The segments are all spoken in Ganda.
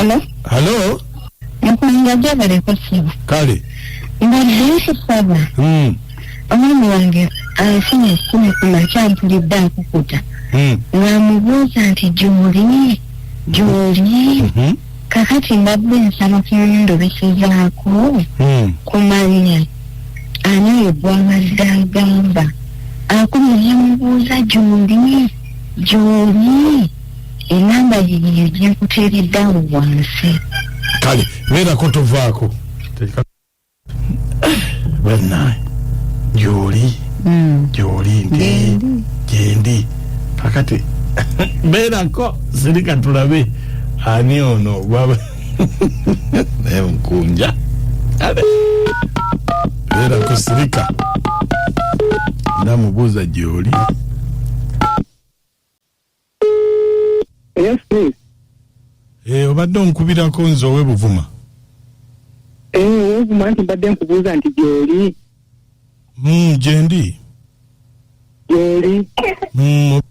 Hello? Hello? Nakulinda jaba leko siba. Kale. Mbadilisi saba. Hmm. Omwami wange alifuna ekumi ku makya mpulidde akukuta. Hmm. Namubuuza nti gyoli gyoli. Hmm. Kakati mbadde nsaba ku ndobesezaako hmm. ku mannya. ani oyo gwabadde agamba akumu yamubuuza gyoli gyoli enamba yiyo gyakuteereddawo wansi kale beerako tovaako banaye gyoli hmm. gyoli nti gyendi kakati beerako sirika tulabe ani ono gwaba naye mukunja abe era kusirika namubuuza gyoli Yes, please. Eh, obadde onkubirako nze owe buvuma Eh, wovuma nti mbadde nkubuuza nti gyoli. Mm, gyendi gyoli Mm,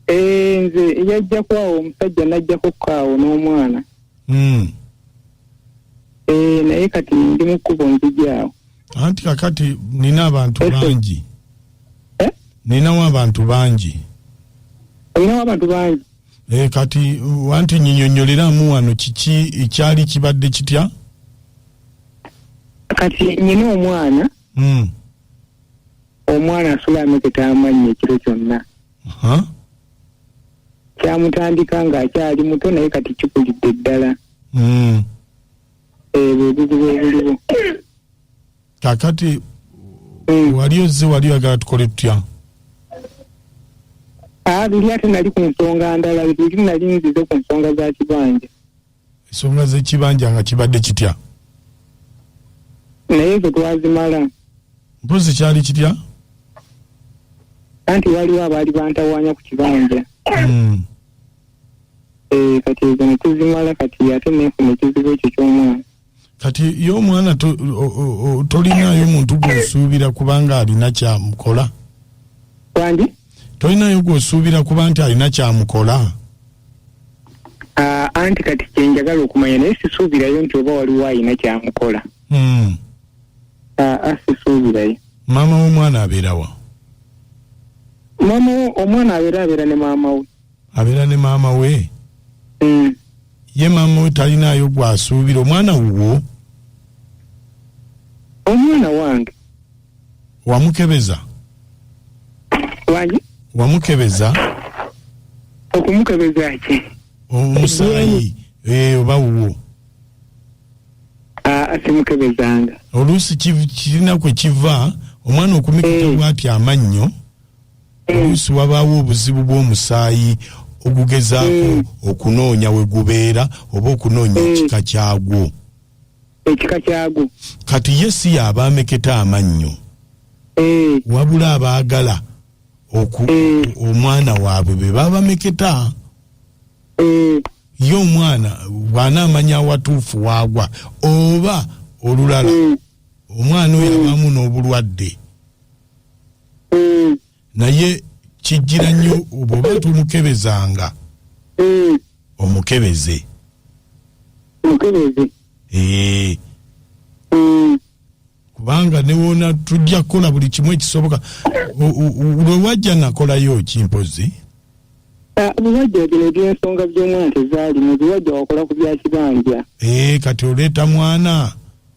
Eh, nze yajja kwawo omusajja najjako kaawo n'omwana mm. Eh, naye kati ndi mu kkubo nzijaawo anti kakati nina abantu Ese. bangi Eh? ninawo abantu bangi olinawo abantu bangi Eh, kati wanti nyinyonyoleramu wano kiki ekyali kibadde kitya kati nyina omwana Mm. omwana asula ameketa amannyi ekiro kyonna Aha. kyamutandika ng'akyali muto naye kati kikulidde ddala Mm. ebyo ebizibu ebiliwo kakati wali ozze wali oyagala tukole tutya Ah, buli ate nali ku nsonga ndala buli nali nzize ku nsonga za kibanja ensonga zekibanja nga kibadde kitya naye ezo twazimala mpozi kyali kitya anti waliwo abaali bantawanya ku kibanja hmm. eh, kati ezo netuzimala kati ate nefuna ekizibu ekyo kyomwana kati ye omwana tolinayo muntu gwosuubira kubanga alina kyamukola kandi tolinayo gwosuubira kuba nti alina kyamukola ah, anti kati kyenjagala okumanya naye sisuubirayo nti oba waliwo alina kyamukola hmm. ah, ah, sisuubirayo maama womwana abeerawa maama omwana abeera abeera ne maama we abeera ne maama we mm. ye maama we talinaayo gwasuubira omwana wuwo omwana wange wamukebeza wani wamukebeza okumukebeza ki omusaayi eh, oba wuwo ah, simukebezanga oluusi kirina kwe kiva omwana okumikita eh. bwati amannyo oluusi wabaawo obuzibu bw'omusaayi ogugezaako mm. okunoonya we gubeera oba okunoonya mm. ekika kyagwo ekika kyagwo kati ye si yaaba ameketa amannyo mm. wabula abaagala omwana waabwe be babameketa ye omwana bw'anaamanya awatuufu waagwa oba olulala omwana oyo abaamu n'obulwadde mm. naye kijjira nnyo bwoba tomukebezanga mm. omukebeze omukebeze ee mm. kubanga newona tujja kukola buli kimu ekisoboka lwewajja nakolayo ki mpozi ah, biwajja bino ebyensonga byomwana tezaalimu biwajja wakola ku byakibanja ee eh, kati oleeta mwana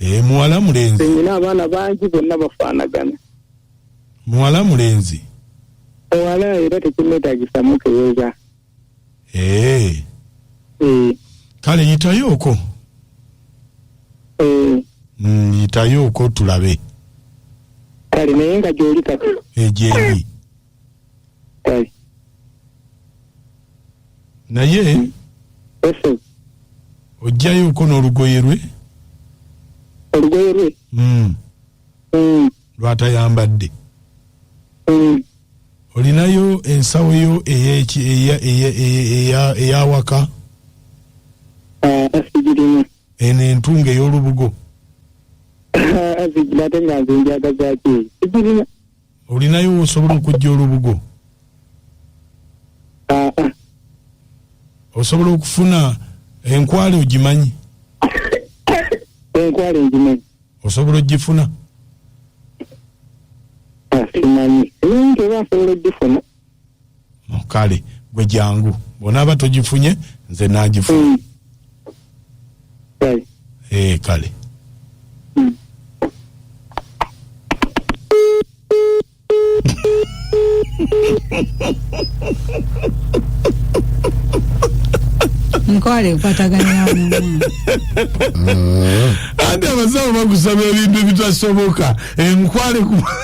Eh, muwala mulenzi nina abaana bangi bonna bafaanagana muwala mulenzi owala era tekimwetagisa mukeweza Eh, Eh, kale yitayooko eh, Mm, yitayooko tulabe kale naye nga gyoli kati egyendi naye ojjayoko n'olugoye lwe olugoye lwe hmm. Hmm. lwatayambadde hmm. olinayo ensawo yo eyawaka ah, eno entunga ey'olubugo ah, olinayo wosobola okujja olubugo osobola okufuna enkwale ogimanyi enkwale ngimanyi osobola ogifuna ah, simanyi naye nti oba asobola ogifuna kale gwe jangu bwonaaba togifunye nze nagifunye mm. hey. Eh, kale mm. nkwale kwataganyamu ate abasawo bakusaba ebintu ebitasoboka enkwale eh,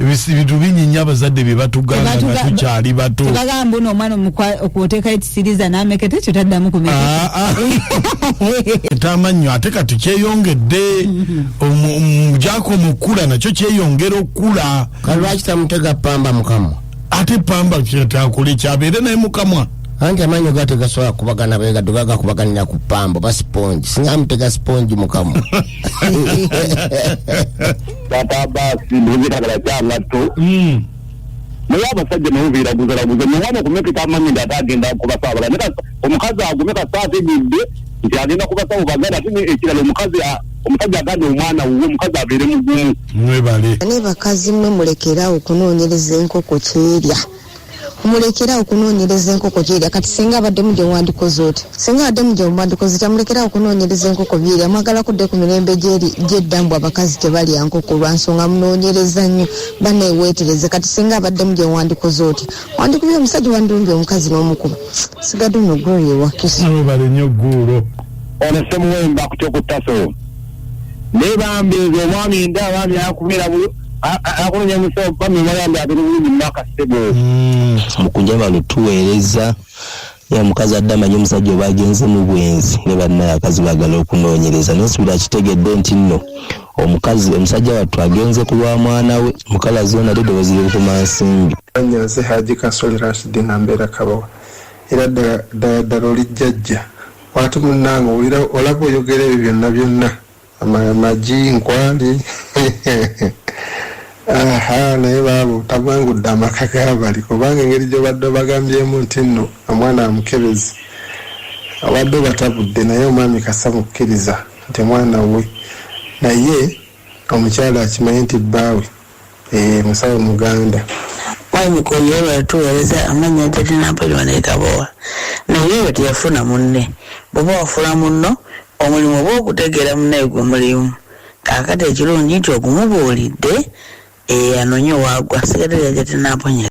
ebintu bingi nnyo abazadde bye batugamba nga tukyali bato tebagamba ono omwana okwoteekayo ekisiriza n'ameketa ekyo taddamu kumeketaamannyo ah, ah. ate kati kyeyongedde mujako mm-hmm. mukula nakyo kyeyongera okukula kalwaki tamutega pamba mukamwa ate pamba kyetaakole kyabeere naye mukamwa anti amanyo gate gasobola kubagana begado gagakubaganira ku pambo basipongi singa amutega sipongi mukamu papa basi ndizitagala kyangatto hmm. naye abasajja nebuviira guzalaguza newaba okumekeka amanyi nti ate agenda kubasaabala ne omukazi agume kasaate gidde nti agenda kubasaba baganda ate ekirala omukazi omusajja aganda omwana wuwe omukazi abeere mugumu mwebale ne bakazi mwe mulekerawo okunoonyereza enkoko kyerya mulekera okunonyereza enkoko gyerya kati singa abaddemu gye wandikoze oti singa abaddemu gye mwandikoze otya mulekera okunonyereza enkoko byerya mwagala kudde ku mirembe gyedda mbu abakazi tebalya nkoko lwa nsonga munonyereza nnyo banewetereze kati singa abaddemu gye wandikoze otya wandikubye omusajja wandirumbye omukazi n'omukuba sigadde no glory ewakisa webale nnyo guulo ono semuwemba kutya okutasowo naye bambi nze omwami nda bambi akubeera bulu akunonya musawo bambi mwayambi abiri bulungi mumaka sebo mm, mukunja bano tuweereza ya mukazi adde amanyi omusajja oba agenze mu bwenzi ne bannaye akazi bagala okunoonyereza naye sibira akitegedde nti nno omukazi omusajja wattu agenze ku lwa mwana we mukala zoona ddoboozi lyokuma nsimbi anya nze haji kasole rashidi nambeera kabawa era ddala ddala olijjajja Watu munange owulira olaba oyogera ebyo byonna byonna ama- magi nkwali aha naye baabo tagwangudde amaka gabali kubanga engeri gyobadde obagambyemu nti nno omwana amukebezi abadde obatabudde naye omwami kasa mukkiriza nti mwana wuwe naye omukyala akimanyi nti bbaawe Eeh musawo muganda. Mwami Mukuumi webale tuwereza amanya Jati Nampoli wano e Kabowa naye oyo teyafuna munne bwoba wafuna munno omulimu oba okutegeera munaye gwe mulimu kakati ekilungi nti ogumubuulidde eeh anonye wagwa sigadde lya Jati Namponyeza.